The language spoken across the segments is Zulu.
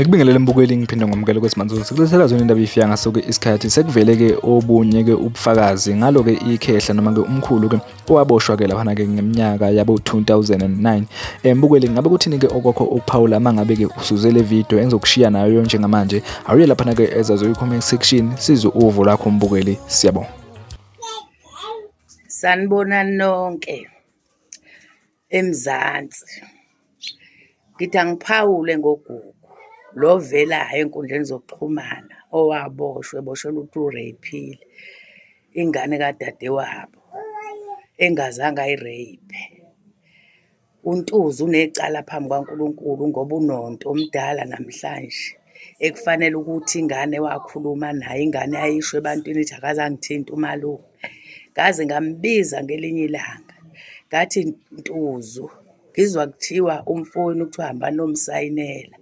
ngikubingelele mbukeli ngiphinde ngomukele kwesimanje sikulethela zona indaba ifiya ngaso-ke isikhathi sekuvele-ke obunye-ke ubufakazi ngalo-ke ikhehla noma-ke umkhulu-ke owaboshwa ke laphana ke ngeminyaka yabo 2009 embukeli eh, ngabe kuthini ke okwakho ukuphawula uma ngabe ke usuze le video engizokushiya nayo njengamanje awuye laphana ke ezazo comment section sizo uvo lakho mbukeli siyabonga sanibona nonke eMzansi ngithi angiphawule ngogugu lo ovelayo enkundleni zokuxhumana owaboshwe eboshelwa ukuthi ureyiphile ingane kadadewabo engazange ayireyiphe uNtuzi unecala phambi kwaNkulunkulu ngoba unonto omdala namhlanje ekufanele ukuthi ingane wakhuluma naye ingane ayisho ebantwini ithi akazangithinta umalume ngaze ngambiza ngelinye ilanga ngathi ntuzu ngizwa kuthiwa umfowenu kuthiwa hamba nomsayinela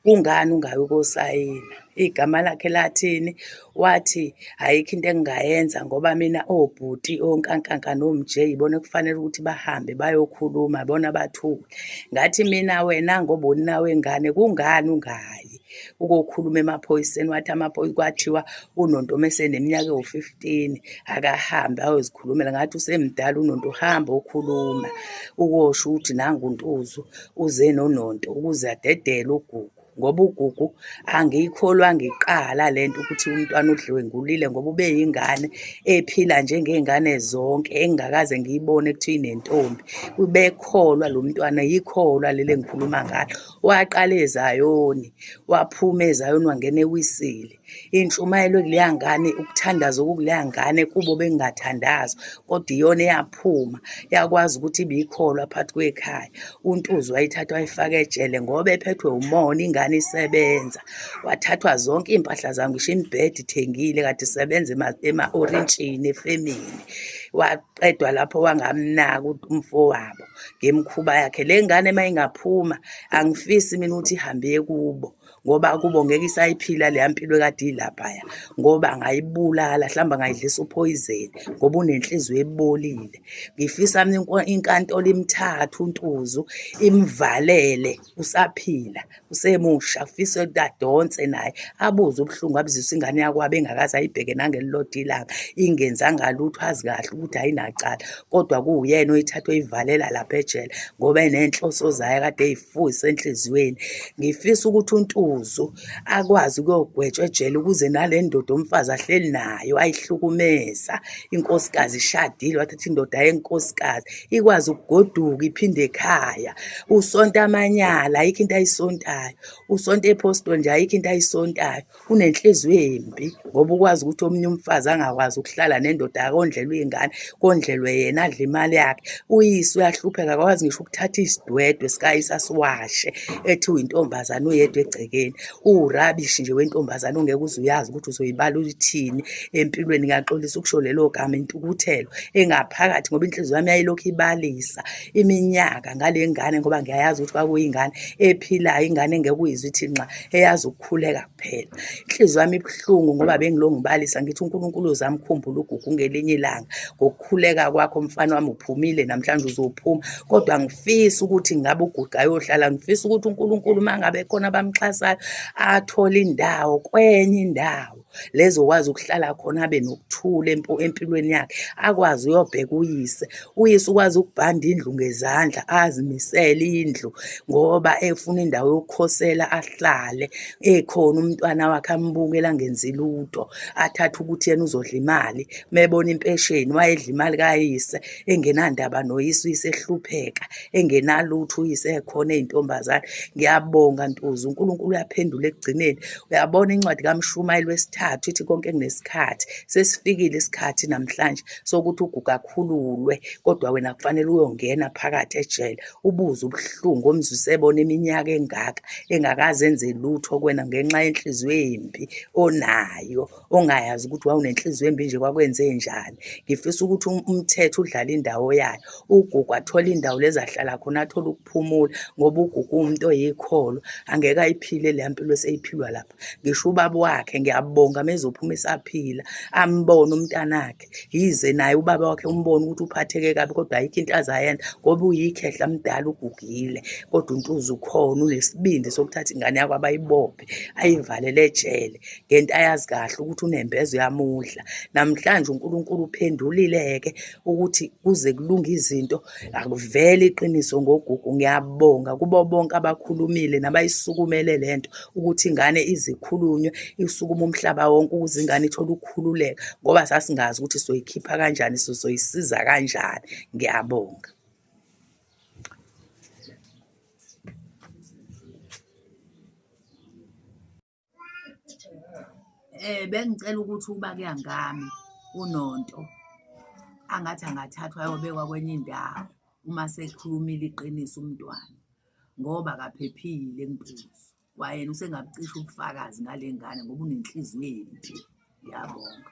kungani ungayi ukosayina igama lakhe lathini wathi ayikho into engingayenza ngoba mina obhuti onkankanka nomj yibona kufanele ukuthi bahambe bayokhuluma bona bathule ngathi mina wena ngoba uninawe ngane kungani ungayi ukokhuluma emaphoyiseni wathi amaphoyisa kwathiwa unonto meseneminyaka ewu-fifteen akahambe ayozikhulumela ngathi usemdala unonto uhambe okhuluma ukosho ukuthi nangu ntuzu uze nononto ukuze adedele ugugu ngoba ugugu angiyikholwa ngiqala le nto ukuthi umntwana udliwe ngulile ngoba ube yingane ephila njengey'ngane zonke engingakaze ngiyibone kuthiwa inentombi ubekholwa lo mntwana yikholwa leli engikhuluma ngalo waqala ezayoni waphuma ezayoni wangena ewisile intshumayelo kuleya ngane ukuthandaza okukuleya ngane kubo bengathandaza kodwa iyona eyaphuma yakwazi ukuthi ibiyikholwa phakathi kwekhaya untuzi wayithatha wayifaka ejele ngoba ephethwe umona ingane isebenza wathathwa zonke iy'mpahla zam ngisho imibhedi ithengile kade isebenza ema-orintshini efemini waqedwa lapho wangamnaka umfowabo ngemkhuba yakhe le ngane uma ingaphuma angifisi mina ukuthi ihambe kubo ngoba kubo ngeke isayiphila leya mpilo kade ilaphaya ngoba angayibulala mhlawumbe angayidlisa uphoyizeni ngoba unenhliziyo ebolile ngifisa inkantolo imthathe untuzu imvalele usaphila usemusha ufisa ukuthi adonse naye abuze ubuhlungu abuzisa ingane yakwabo engakaze ayibheke nangelilodwa ilanga ingenzanga lutho azi kahle ukuthi ayinacala kodwa kuwuyena oyithatha oyivalela lapha ejele ngoba enenhloso zayo kade eyifuyisa enhliziyweni ngifisa ukuthi untuzo akwazi ukuyogwetshwa ejele ukuze nale ndoda umfazi ahleli nayo ayihlukumeza inkosikazi ishadile wathatha indoda yenkosikazi ikwazi ukugoduka iphinde ekhaya usonta amanyala ayikho into ayisontayo usonta ephostoli nje ayikho into ayisontayo unenhliziyo embi ngoba ukwazi ukuthi omunye umfazi angakwazi ukuhlala nendoda yakondlela uyingane kondlelwe yena adla imali yakhe uyise uyahlupheka akakwazi ngisho ukuthatha isidwedwe sikayise asiwashe ethi uyintombazane uyedwa egcekeni uwurabishi nje wentombazane ongeke uze uyazi ukuthi uzoyibala uthini empilweni ngiyaxolisa ukusho lelo gama intukuthelo engaphakathi ngoba inhliziyo yami yayilokhu ibalisa iminyaka ngale ngane ngoba ngiyayazi ukuthi kwakuyingane ephilayo ingane engeke uyizwe ithi nxa eyazi ukukhuleka phela inhliziyo yami ibuhlungu ngoba bengilongibalisa ngithi uNkulunkulu uzamkhumbula ugugu ngelinye ilanga ngokukhuleka kwakho mfana wami uphumile namhlanje uzophuma kodwa ngifisa ukuthi ngabe ugugu ayohlala ngifisa ukuthi uNkulunkulu uma ngabe khona abamxhasayo athole indawo kwenye indawo lezokwazi ukuhlala khona abe nokuthula empilweni yakhe akwazi uyobheka uyise Uyise ukwazi ukubhanda indlu ngezandla azimisele indlu ngoba efuna indawo yokukhosela ahlale ekhona umntwana wakhe ambukela ngenzi lutho athathe ukuthi yena uzodla imali mebona impesheni wayedla imali kayise engenandaba noyise uyise ehlupheka engenalutho uyise ekhona ezintombazane ngiyabonga ntuzu uNkulunkulu uyaphendula ekugcineni uyabona incwadi kaMshumayeli wesithathu ithi konke kunesikhathi sesifikile isikhathi namhlanje sokuthi uguga akhululwe kodwa wena kufanele uyongena phakathi ejele ubuze ubuhlungu omzwise ebona iminyaka engaka engakaze enze lutho kwena ngenxa yenhliziyo embi onayo ongayazi ukuthi wawunenhliziyo embi nje kwakwenze njani ngifisa ukuthi um-, umthetho udlale indawo yayo ugugu athole indawo lezahlala khona athole ukuphumula ngoba ugugu umuntu oyikholo angeke ayiphile leya mpilo eseyiphilwa lapha ngisho ubaba wakhe ngiyabonga mezophuma esaphila ambone umntanakhe yize naye ubaba wakhe umbone ukuthi uphatheke kabi kodwa ayikho into azayenza ngoba uyikhehla mdala ugugile kodwa untuza ukhona unesibindi sokuthatha ingane yakho abayibophe ayivalele ejele ngento ayazi kahle ukuthi unembeza uyamudla namhlanje unkulunkulu uphendulile-ke ukuthi kuze kulunge izinto akuvele iqiniso ngogugu ngiyabonga kubo bonke abakhulumile nabayisukumele le nto ukuthi ingane izikhulunywe isukuma umhlaba wonke ukuze ingane ithole ukukhululeka ngoba sasingazi ukuthi soyikhipha kanjani sosoyisiza kanjani ngiyabonga eh bengicela ukuthi uba kuyangami unonto angathi angathathwa ayobekwa kwenye indawo uma sekhulumile iqiniso umntwana ngoba kaphephile ngiphuzwa kwayena usengabucisha ubufakazi ngale ngane ngoba unenhliziyo embi ngiyabonga